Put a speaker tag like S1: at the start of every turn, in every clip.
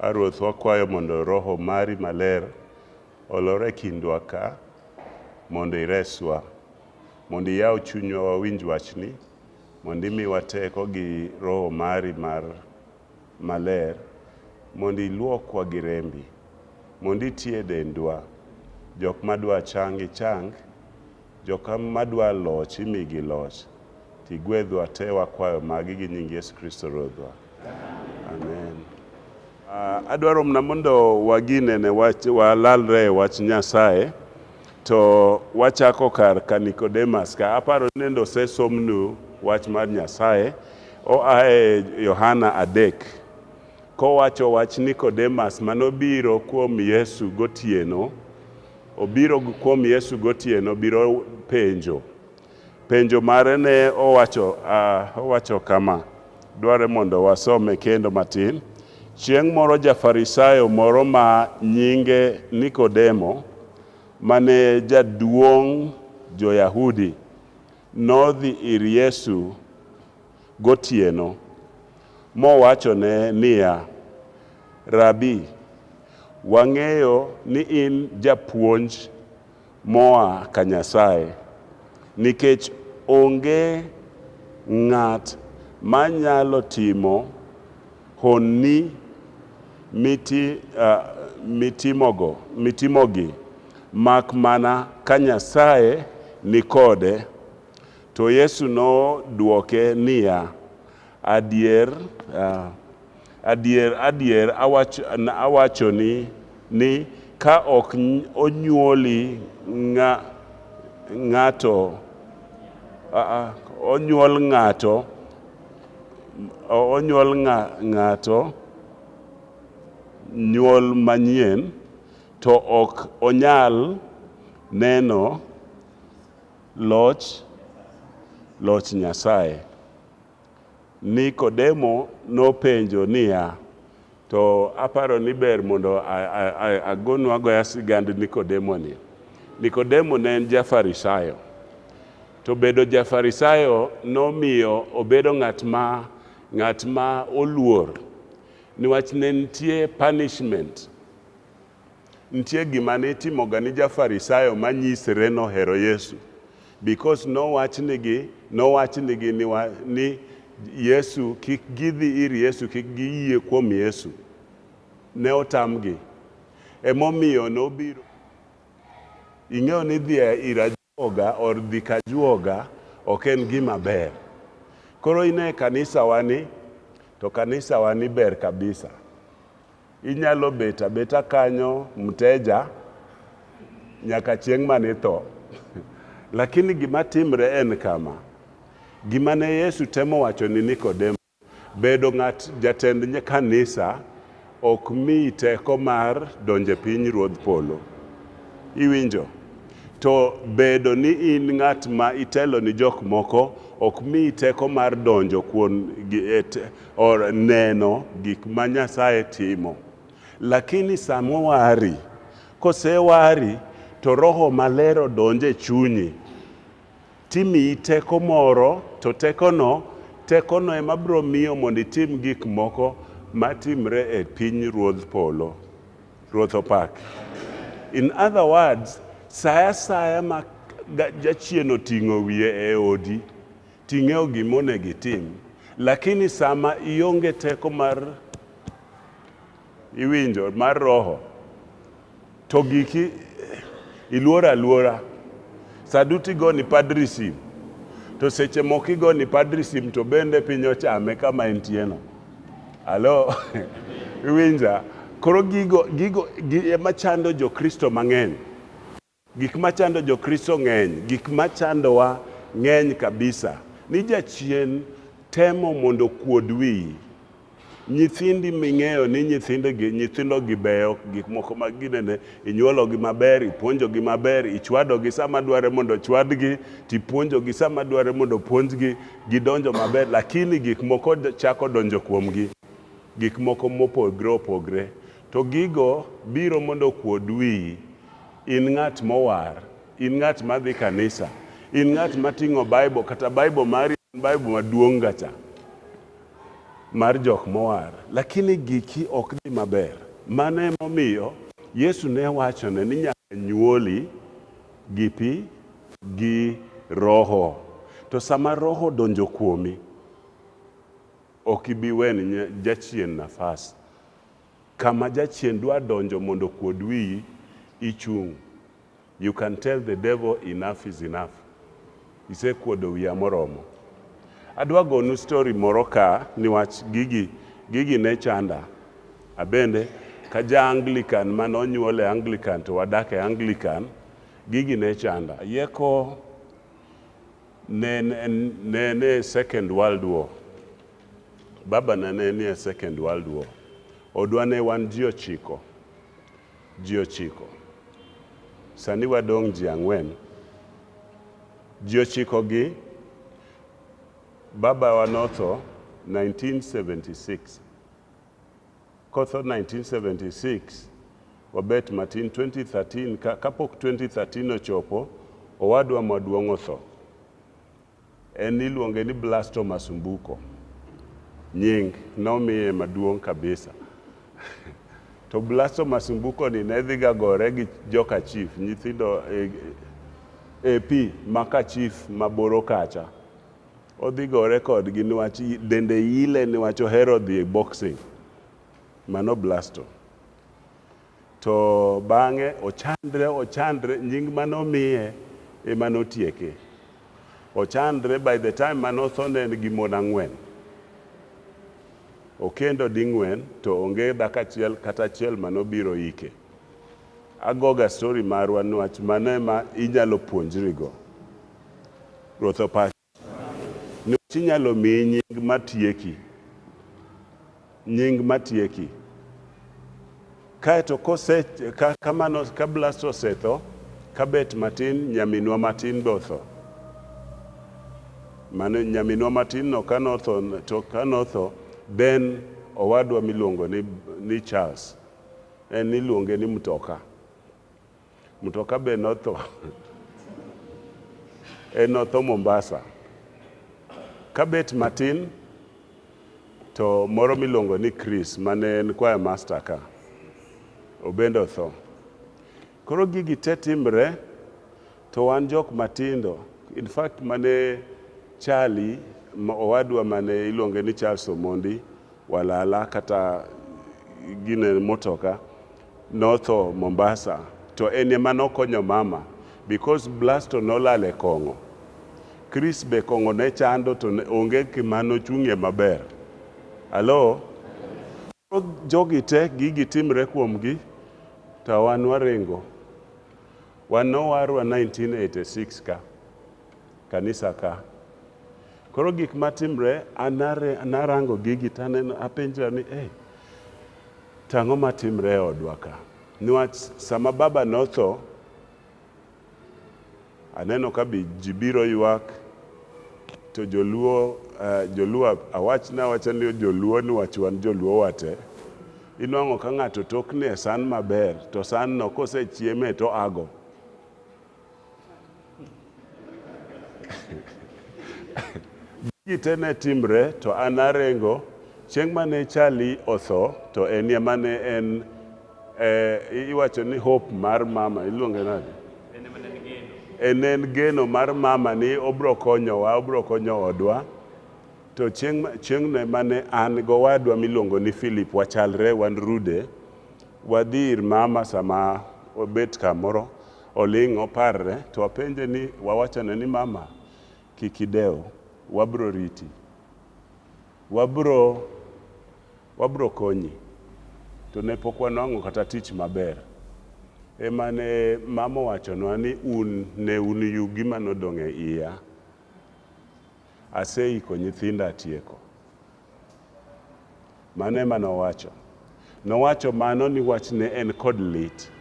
S1: A Ruoth, wakwayo mondo Roho mari maler olor e kindwa ka, mondo ireswa, mondo iyaw chunywa wawinj wachni, mondo imiwa teko gi Roho mari mar maler, mondo iluokwa gi rembi, mondo iti e dendwa. Jok ma dwa chang ichang, Joka madwa loch imigi loch. Tigwedhwa tee wakwayo magi gi nying Yesu Kristo Ruodhwa. Amen. Uh, adwaro mna mondo waginene wach, walalre e wach Nyasaye to wachako kar ka Nikodemas ka aparo ni nende osesomnu wach mar Nyasaye oa e Yohana adek kowacho wach Nikodemas manobiro kuom Yesu gotieno Obiro kuom Yesu gotieno biro penjo. Penjo mare ne owacho, uh, owacho kama, dwarore mondo wasome kendo matin. Chieng' moro jafarisayo moro ma nyinge Nikodemo, mane jaduong' jo-Yahudi, nodhi ir Yesu gotieno, mowachone niya, Rabi, wang'eyo ni in japuonj moa ka Nyasaye, nikech onge ng'at ma nyalo timo honni mitimogi mak mana ka Nyasaye ni kode. To Yesu nodwoke niya, Adier, ah, adier, adier awach, awachoni ni ka ok ny- onyuoli ng'a, ng'ato ah, ah, onyuol ng'ato o- onyuol ng'a, ng'ato nyuol manyien to ok onyal neno Loch, Loch Nyasaye. Nikodemo nopenjo niya, to aparo ni ber mondo agonu agoya sigand Nikodemoni. Nikodemo ne en ja-Farisayo, to bedo ja-Farisayo nomiyo obedo ng'at ma ng'at ma oluor niwach ne nitie punishment Nitie gima ne itimoga ni ja-Farisayo ma nyisre nohero Yesu. Because nowachnigi, nowachnigi ni wa, ni Yesu, kik gidhi ir Yesu, kik giyie kuom Yesu. Ne otamgi. Emomiyo nobiro. Ing'eyo ni dhi ir Ajuoke. Ajuoga or dhi ka juoga ok en gima ber. Koro ine kanisa wa ni to kanisa wa ni ber kabisa. Inyalo bet abeta kanyo mteja nyaka chieng' mane itho. Lakini gima timre en kama, gima ne Yesu temo wacho ni Nikodemo, Bedo ng'at jatend kanisa ok miyi teko mar donjo e Pinyruodh polo. Iwinjo? To bedo ni in ng'at ma itelo ni jok moko ok miyi teko mar donjo kuon or neno gik ma Nyasaye timo. Lakini sama owari, kosewari to Roho Maler odonjo e chunyi. Timiyi teko moro, to tekono, tekono ema biro miyo mondo itim gik moko matimre e piny Ruodh polo. Ruoth opak. In other words, saa asaya ma jachien oting'o wiye e odi, ting'eyo gima onego itim. Lakini sama ionge teko mar. iwinjo mar roho to giki iluoro aluora sa duto igoni padri sim to seche moko igoni padri sim to bende piny ochame kama entieno alo iwinja koro gigo gigo gi ema chando jokristo mang'eny Gik ma chando Jokristo ng'eny. Gik ma chandowa ng'eny kabisa. Ni Jachien temo mondo okuod wiyi. Nyithindi ming'eyo ni nyithindgi, nyithindogi beyo, gik moko ma ginene, inyuologi maber, ipuonjogi maber, ichwadogi sama dwarre mondo ochwadgi, to ipuonjogi sama dwarre mondo opuonjgi, gidonjo maber. Lakini gik moko chako donjo kuomgi. Gik moko mopogre opogre. To gigo biro mondo okuod wiyi, in ng'at mowar, in ng'at madhi kanisa, in ng'at mating'o Bible, kata Bible mari en Bible maduong' ga cha mar jok mowar, lakini giki ok dhi maber. Mano emomiyo Yesu ne wachone ni nyaka nyuoli gi pi gi Roho. To sama Roho odonjo kuomi, ok ibi weni Jachien nafas. Kama jachien dwa donjo mondo okuod wiyi, ichung'. You can tell the devil enough is enough. Isekuodo wiya moromo. Adwa gonu story moro ka niwach gigi, gigi ne chanda. Abende ka ja Anglican mane onyuol e Anglican to wadak e Anglican, gigi ne chanda. Ayeko ne en ne en e Second World War. Babana ne nie Second World War. Odwa ne wan ji ochiko, ji ochiko. Sani wadong' ji ang'wen. Ji ochikogi, babawa notho 1976. Kotho 1976, wabet matin 2013, kapok 2013 ochopo, owadwa maduong' otho. En iluonge ni Blasto Masumbuko. Nying nomiye maduong' kabisa. to Blasto Masumbuko ni ne dhiga gore gi joka chief, nyithindo e, e pi maka chief maboro kacha. Odhi gore kodgi niwach dende ile niwach ohero dhi e boxing. Mano Blasto. To bang'e ochandre ochandre nying mane omiye emane otieke. Ochandre by the time mane otho ne en gi mon ang'wen. Okendo ding'wen to onge dhako achiel kata achiel mane obiro ike. Agoga story marwa niwach mano ema inyalo puonjrigo. Ruoth opachi. Newach inyalo miyi nying matieki, nying matieki. Kaeto kose ka, kamano ka Blast osetho, kabet matin nyaminwa matin be otho. Mano nyaminwa matin no ka notho to ka notho then owadwa miluongo ni ni Charles en niluonge ni Mtoka. Mtoka be notho. E notho Mombasa. Kabet matin to moro miluongo ni Chris mane en kwaya master ka obende otho. Koro gigi te timre to wan jok matindo. In fact mane Charlie ma- owadwa mane iluonge ni Charles Omondi walala kata gine motoka notho Mombasa to en ema nokonyo mama because Blasto nolal e kong'o. Chris be kong'o ne chando to onge gima nochung'ie maber. Hello? Koro jogi te gigi timre kuomgi to wan waringo. Wan nowarwa 1986 ka. Kanisa ka. Koro gik matimre, anare, narango gigi to aneno, apenjra ni, eh, tang'o matimre e odwa ka. Niwach sama baba notho, aneno ka bi ji biro ywak, to joluo, eh, joluo awach ni awacha ni joluo niwach wan joluo wate. Inwang'o ka ng'ato tokni e san maber, to san no kosechieme to ago. Gigi te ne timre to an arengo. Chieng' mane Charlie otho to enie mane en eh, i- iwacho ni hope mar mama iluonge nade? En en geno mar mama ni obro konyowa, obro konyo odwa. To chieng' ma- chieng' ne mane an gowadwa miluongo ni Philip wachalre wan rude, wadhi ir mama sama obet kamoro Oling' oparre to wapenje ni wawachone ni mama kik idew wabro riti, wabro wabro konyi to ne pok wanwang'o kata tich maber. Ema ne mama owachonwa ni un ne un yugi mane odong' e iya. Aseiko nyithinda atieko. Mano ema nowacho. Nowacho mano ni wach ne en kod lit.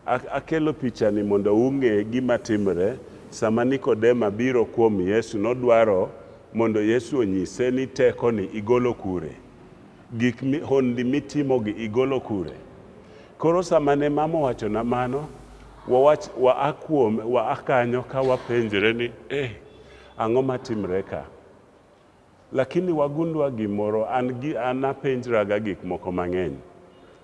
S1: Akelo pichani mondo ung'e gima timre sama Nikodema biro kuom Yesu nodwaro mondo Yesu onyise ni tekoni igolo kure. Gik mi, honni mitimogi igolo kure? Koro sama ne mama owachona mano, wawach waa kuom, waa kanyo ka wapenjre ni, eh, ang'o matimre ka? Lakini wagundua gimoro, an gi, an apenjraga gik moko mang'eny.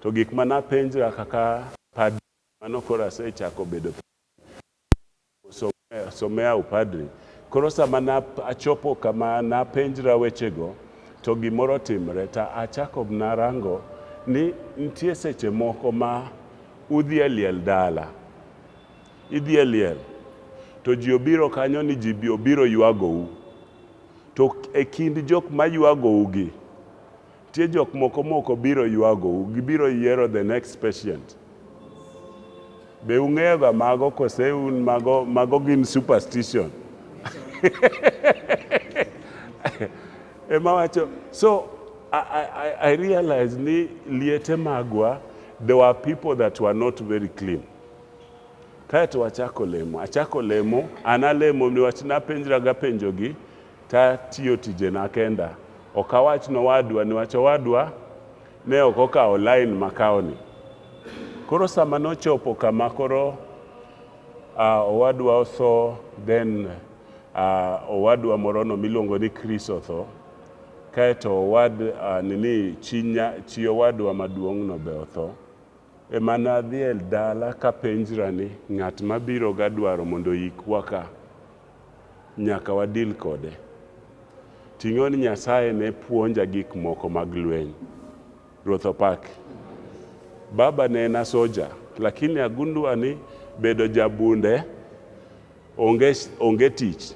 S1: To gik mane apenjra kaka padri, mano koro asechako bedo padri. Osomea, somea upadri. Koro sama na achopo kama napenjra wechego to gimoro timre ta achako mna rango ni nitie seche moko ma udhi e liel dala. Idhi e liel to ji obiro kanyo ni ji bi obiro ywagou. To e kind jok ma ywagougi Tie jok moko moko biro ywagou, gibiro yiero the next patient. Be ung'eyoga mago kose un mago, mago gin superstition. Ema wacho, so I, I, I- I realize ni liete magwa, there were people that were not very clean. Kaeto wachako lemo, achako lemo, an alemo niwach napenjraga penjogi, Ta tiyo tijena kenda. Ok awach nowadwa niwach owadwa ne ok okawo line makawoni. Koro sama nochopo kama koro owadwa otho then owadwa morono miluongo ni Chris otho kaeto owad nini chi owadwa maduong'no be otho. Ema nadhi e dala kapenjra ni, 'Ng'at ma biroga dwaro mondo oyikwa ka, nyaka wadil kode? Ting'o ni Nyasaye ne puonja gik moko mag lweny. Ruoth opak. Baba ne en asoja, lakini agundua ni bedo jabunde onge, onge tich.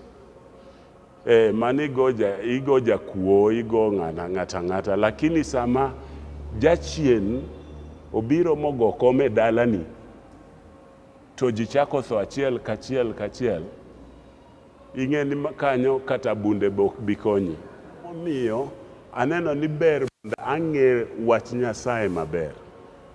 S1: Eh, mano igoja igoja kuo igo ng'ana ng'ata ng'ata lakini sama jachien obiro mogo kome dalani to ji chako tho achiel kachiel kachiel ing'e ni ma- kanyo kata bunde be ok bi konyi omiyo aneno ni ber mondo ang'e wach nyasaye maber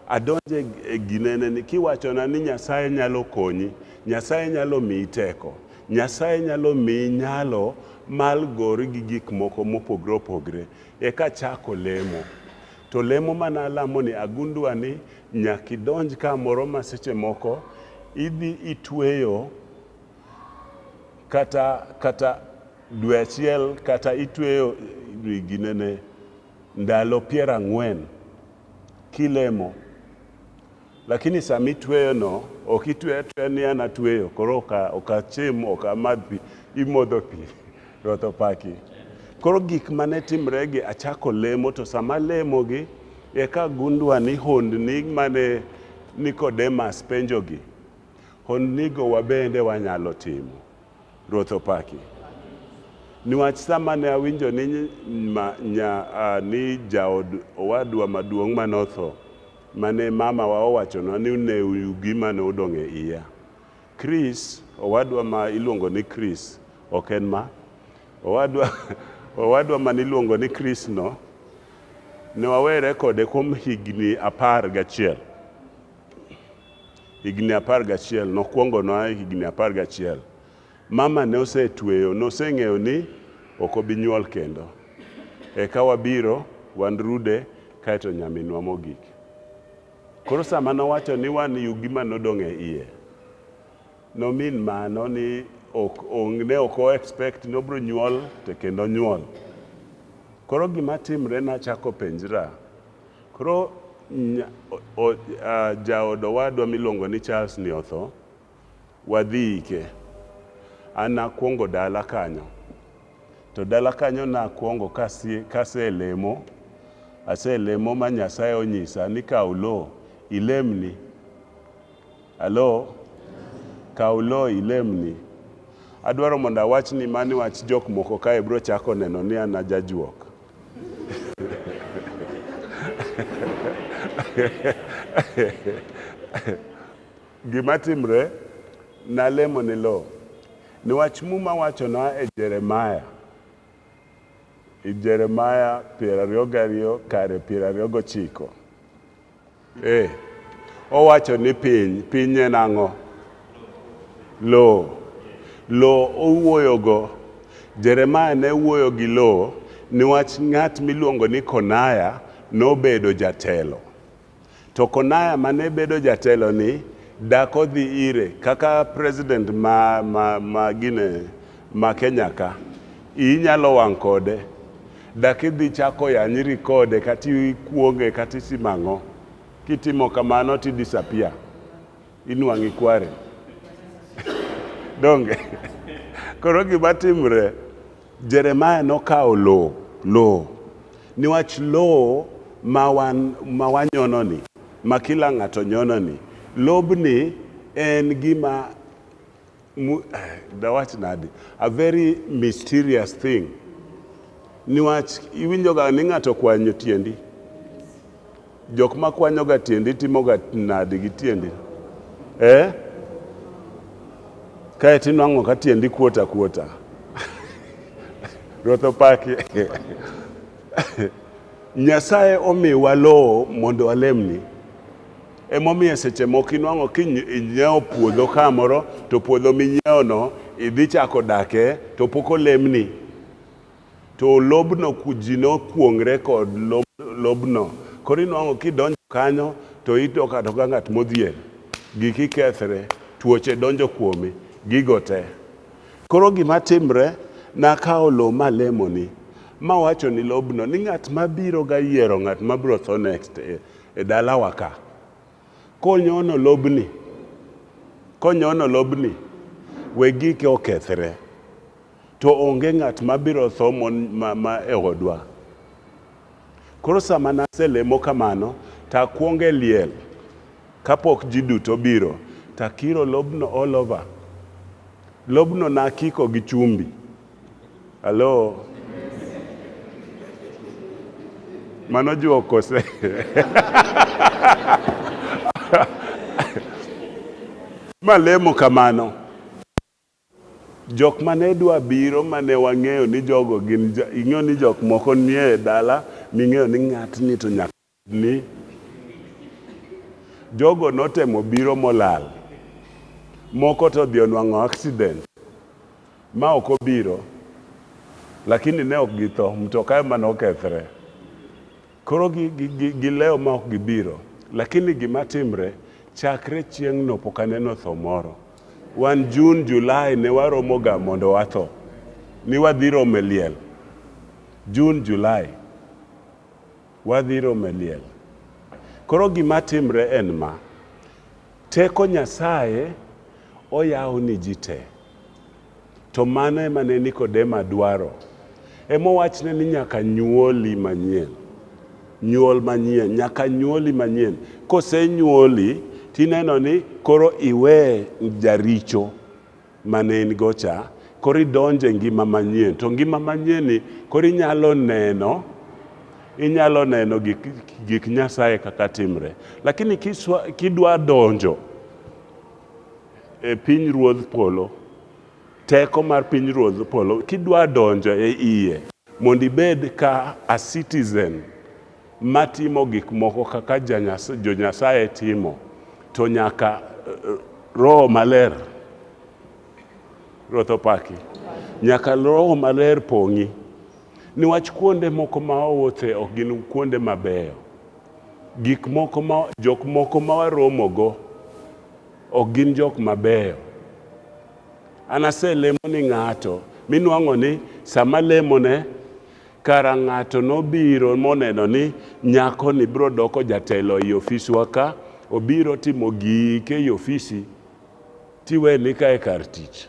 S1: Adonje e ginene ni kiwachona ni Nyasaye nyalo konyi, Nyasaye nyalo miyi teko, Nyasaye nyalo miyi nyalo mal gori gi gik moko mopogre opogre. Eka achako lemo. To lemo mana alamo ni agundua ni nyaka idonj ka moro ma seche moko idhi itweyo kata kata dwe achiel kata itweyo ginene ndalo piero ang'wen. kilemo. Lakini sama itweyono, ok itwe atweya ni an atweyo, koro oka- okachiem, okamadh pi, imodho pi. Ruoth opaki. Koro gik mane timregi, achako lemo, to sama alemogi, eka agundwa ni hondni mane Nikodemas penjogi, hondnigo wabende wanyalo timo. Ruoth opaki. Niwach sama ne awinjo ni ma, nya, a, ni jaod owadwa maduong' mane otho, mane mamawa owachonwa ni uneuru gima ne odong' e iya. Chris, owadwa ma iluongo ni Chris, ok en ma? Owadwa, owadwa mane iluongo ni Chris no, ne wawere kode kuom higni apar gachiel. Higni apar gachiel, nokwongo noa e higni apar gachiel. Mama ne osetweyo, noseng'eyo ni ok obi nyuol kendo. Eka wabiro, wan rude, kae to nyaminwa mogik. Koro sama nowacho ni wan yugi ma nodong' e iye, nomin mano ni ok, ong, ne ok o expect ni obiro nyuol to kendo onyuol. Koro gima timre, nachako penjra, Koro jaod owadwa miluongo ni Charles ni otho, wadhi ike. An nakwongo dala kanyo, to dala kanyo nakwongo kaselemo, aselemo ma Nyasaye onyisa ni kaw lo ilemni. Alo? Kaw lo ilemni. Adwaro mondo awachni mani wach jok moko kae biro chako neno ni an ajajuok. Gima timre, nalemo ni lo. Niwach muma wachonwa e Jeremaya, i Jeremaya piero ariyo gariyo kare piero ariyo gochiko. Ee, owacho ni piny. Piny en ang'o? Lowo. Lowo owuoyogo. Jeremaya ne wuoyo gi lowo niwach ng'at miluongo ni Konaya nobedo jatelo. To Konaya mane bedo jatelo ni dak odhi ire kaka president ma, ma, ma gine ma Kenya ka. Iyi nyalo wang' kode. Dak idhi chako yanyi rikode kata ikuonge kata itimo ang'o? Kitimo kamano to i-disappear. Inwang' ikware. Donge? Koro gima timre, Jeremiah nokawo lowo, lowo. Niwach lowo ma wan ma wanyononi, ma kila ng'ato nyononi, lobni en gima Mu- dawach nadi a very mysterious thing niwach iwinjoga ni ng'ato kwanyo tiendi jok ma kwanyoga tiendi timoga nadi gi tiendi eh? kae tinwang'o ka tiendi kuota kuota ruoth opaki nyasaye omiwa lowo mondo walemni Emomiyo seche moko inwang'o kinyiewo puodho kamoro to puodho minyiewono idhi chako dake to pok olemni. To lobno ji nokuong're kod lobno. Koro inwang'o kidonjo kanyo to iyudo ka to ka ng'at modhier. Giki kethre, tuoche donjo kuomi, gigo te. Koro gima timre, nakawo lo malemoni mawacho ni lobno ni ng'at mabiroga yiero ng'at mabiro tho next e dalawa ka. Konyono lobni, konyono lobni, we gike okethre, to onge ng'at ma biro tho mon ma, ma e odwa. Koro sama naselemo kamano, takwongo e liel kapok ji duto obiro, takiro lobno all over. Lobno nakiko gi chumbi. Halo. Mano jua okose. Malemo kamano. Jok mane dwa biro mane wang'eyo ni jogo gin ing'eyo ni jok moko nie dala ming'eyo ni ng'atni to nyaka ni jogo notemo biro molal, moko to odhi onwang'o accident ma ok obiro lakini ne ok githo, mtoka ema nokethre. Koro gilewo ma ok gibiro lakini gima timre chakre chieng'no pok aneno tho moro. Wan June, July ne waromoga mondo watho ni wadhi romo e liel, June, July. Wadhi romo e liel. Koro gima timre en ma, teko Nyasaye oyaw ni ji te. To mano ema ne Nikodema dwaro. Emowachne ni nyaka nyuoli manyien. Nyuol manyien, nyaka nyuoli manyien. Kosenyuoli, tineno ni koro iwe jaricho. ma ne in go cha, koro idonjo e ngima manyien. To ngima manyienni koro inyalo neno, inyalo neno gik, gik Nyasaye kaka timre. Lakini kiswa, kidwa donjo e piny ruodh polo, teko mar piny ruodh polo, kidwa donjo e iye mondo ibed ka a citizen matimo gik moko kaka jo Nyasaye timo, to nyaka eh, Roho Maler, Ruoth opaki, nyaka Roho Maler pong'i. Niwach kuonde moko ma wawuothe ok gin kuonde mabeyo. Gik moko ma, jok moko ma waromogo ok gin jok mabeyo. An aselemo ni ng'ato minwang'o ni sama lemone Kara ng'ato nobiro moneno ni nyakoni biro doko jatelo ei ofiswa ka, obiro timo gike ei ofisi tiwene kae kar tich.